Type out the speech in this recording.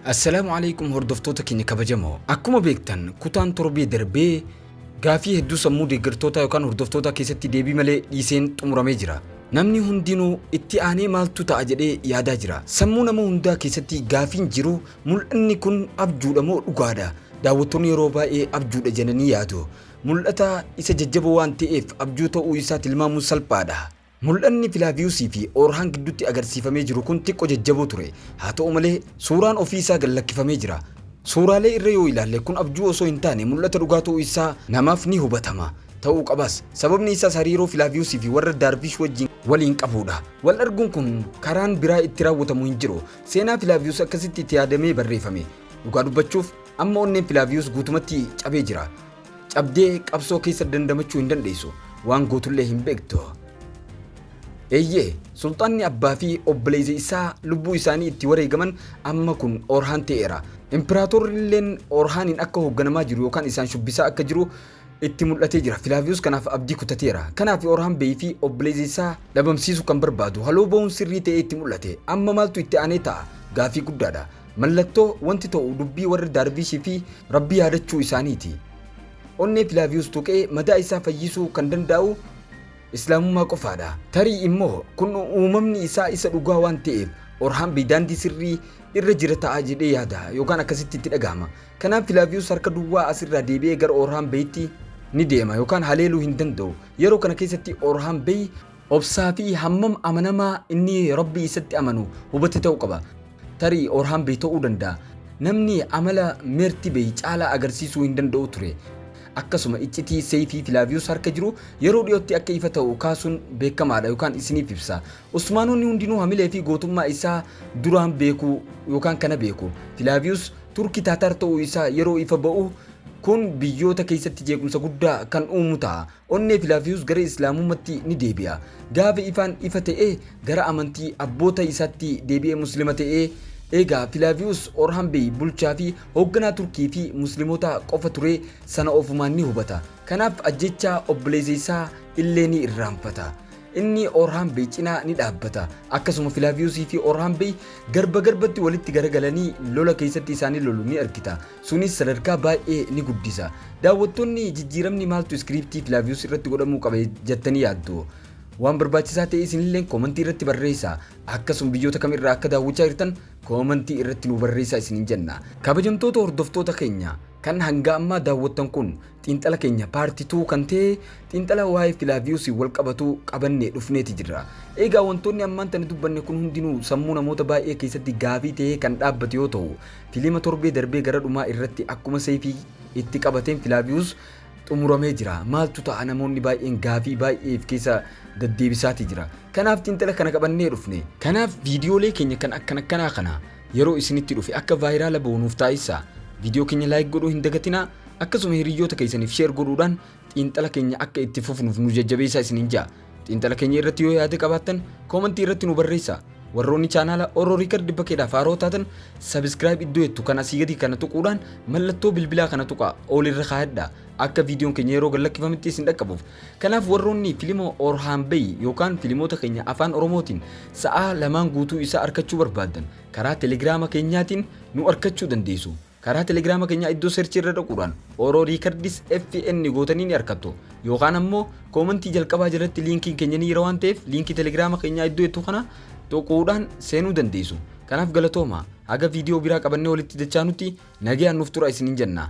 Assalaamu alaikum hordoftoota keenya kabajamoo. Akkuma beektan kutaan torbee darbee gaafii hedduu sammuu deeggartootaa yookaan hordoftootaa keessatti deebii malee dhiiseen xumuramee jira. Namni hundinuu itti aanee maaltu ta'a jedhee yaadaa jira. Sammuu nama hundaa keessatti gaafiin jiru Mul'anni kun abjuudha moo dhugaadha? Daawwattoonni yeroo baay'ee abjuudha jedhanii yaadu. Mul'ata isa jajjaboo waan ta'eef abjuu ta'uu isaa tilmaamuun salphaadha. Mul'anni Filaaviyusii fi Oorhaan gidduutti agarsiifamee jiru kun xiqqoo jajjaboo ture. Haa ta'u malee, suuraan ofii isaa gad lakkifamee jira. Suuraalee irra yoo ilaalle kun abjuu osoo hin taane mul'ata dhugaa ta'uu isaa namaaf ni hubatama. Ta'uu qabas. Sababni isaas hariiroo Filaaviyusii fi warra Daarviish wajjin waliin qabuudha. Wal arguun kun karaan biraa itti raawwatamu hin jiru. Seenaa Filaaviyus akkasitti itti yaadamee barreefame. Dhugaa dubbachuuf amma onneen Filaaviyus guutumatti cabee jira. Cabdee qabsoo keessa dandamachuu hin dandeessu. Waan gootullee hin beektu. Eeyyee, sulxaanni abbaa fi obboleessi isaa lubbuu isaanii itti wareegaman amma kun Orhaan ta'eera. Impiraatorri illeen Orhaaniin akka hoogganamaa jiru yookaan isaan shubbisaa akka jiru itti mul'atee jira. Filaaviyus kanaaf abdii kutateera. Kanaaf Orhaan Beey fi obboleessa isaa dhabamsiisuu kan barbaadu haloo ba'uun sirrii ta'ee itti mul'ate. Amma maaltu itti aanee ta'a? Gaafii guddaadha. Mallattoo wanti ta'u dubbii warra Daarviish fi Rabbi yaadachuu isaaniiti. Onnee Filaaviyus tuqee madaa isaa fayyisuu kan dandaa'u Islaamummaa qofaadha. Tarii immoo kun uumamni isaa isa dhugaa waan ta'eef Orhaan Beey daandii sirrii irra jira ta'a jedhee yaada yookaan akkasitti itti dhaga'ama. Kanaaf Filaaviyus harka duwwaa as irraa deebi'ee gara Oorhaan Beyitti ni deema yookaan haleeluu hin danda'u. Yeroo kana keessatti Oorhaan Beyi obsaa fi hammam amanamaa inni Rabbii isatti amanu hubate ta'uu qaba. Tarii Oorhaan Beyi ta'uu danda'a namni amala Meerti Beyi caalaa agarsiisuu hin danda'u ture. Akkasuma iccitii seeyfii Filaaviyus harka jiru yeroo dhiyootti akka ifa ta'u kaasuun beekamaadha yookaan isiniif ibsa. Osmaanonni hundinuu hamilee fi gootummaa isaa duraan beeku yookaan kana beeku. Filaaviyus Turki Taataar ta'uu isaa yeroo ifa ba'u kun biyyoota keessatti jeequmsa guddaa kan uumu ta'a. Onnee Filaaviyus gara Islaamummatti ni deebi'a. Gaafa ifaan ifa ta'e gara amantii abboota isaatti deebi'ee Muslima ta'e. Eegaa Filaaviyus Orhan Bey bulchaa fi hoogganaa Turkii fi Muslimootaa qofa ture sana ofumaan ni hubata. Kanaaf ajjeechaa obboleessa isaa illee ni irraanfata. Inni Orhaan Bey cinaa ni dhaabbata. Akkasuma Filaaviyusii fi Orhaan Bey garba garbatti walitti garagalanii lola keessatti isaanii lolu ni argita. Sunis sadarkaa baay'ee ni guddisa. Daawwattoonni jijjiiramni maaltu iskiriiptii Filaaviyus irratti godhamuu qaba jattanii yaaddu? Waan barbaachisaa ta'e isinilleen koomantii irratti barreessaa. Akkasuma biyyoota kam irraa akka daawwachaa jirtan koomantii irratti nuu barreessaa isiniin jenna. Kabajamtoota hordoftoota keenya kan hanga ammaa daawwattan kun Xiinxala keenya part two kan ta'e xiinxala waa'ee Filaaviyoosiin wal qabatu qabannee dhufneeti jirra. Egaa wantoonni ammaan tana dubbanne kun hundinuu sammuu namoota baay'ee keessatti gaafii ta'ee kan dhaabbate yoo ta'u, filiima torbee darbee gara dhumaa irratti akkuma seefii itti qabateen Filaaviyoos xumuramee jira. Maaltu ta'a namoonni baay'een gaafii baay'ee if keessa daddeebisaati jira. Kanaaf xiinxala kana qabannee dhufne. Kanaaf viidiyoolee keenya kan akkan akkanaa kana Yeroo isinitti dhufe akka vaayiraala bahu nuuf taasissaa. Viidiyoo keenya like godhuu hin dagatinaa, akkasuma hiriyyoota keessaniif share godhuudhaan xiinxala keenya akka itti fufnuuf nu jajjabeessaa isiniin ja'a. Xiinxala keenya irratti yoo yaada qabaattan koomantii irratti nu barreessaa. Warroonni chaanaala Oro Record Bakkeedhaaf haaroo taatan subscribe iddoo jettu kan asii gadii kana tuquudhaan mallattoo bilbilaa kana tuqaa all irra kaayadhaa. akka viidiyoon keenya yeroo gad lakkifametti isin dhaqqabuuf. Kanaaf warroonni filima Orhaan Bay yookaan filimoota keenya afaan Oromootiin sa'aa lamaan guutuu isaa arkachuu barbaaddan karaa telegiraama keenyaatiin nu arkachuu dandeessu. Karaa telegiraama keenyaa iddoo seerchii irra dhaquudhaan Oro Records FN gootanii ni arkattu. Yookaan ammoo koomantii jalqabaa jalatti liinkiin keenya ni jira waan ta'eef liinkii telegiraama keenyaa iddoo jettu kana tuquudhaan seenuu dandeessu. Kanaaf galatooma. Haga viidiyoo biraa qabannee walitti dachaanutti nagayaan nuuf tura isiniin jenna.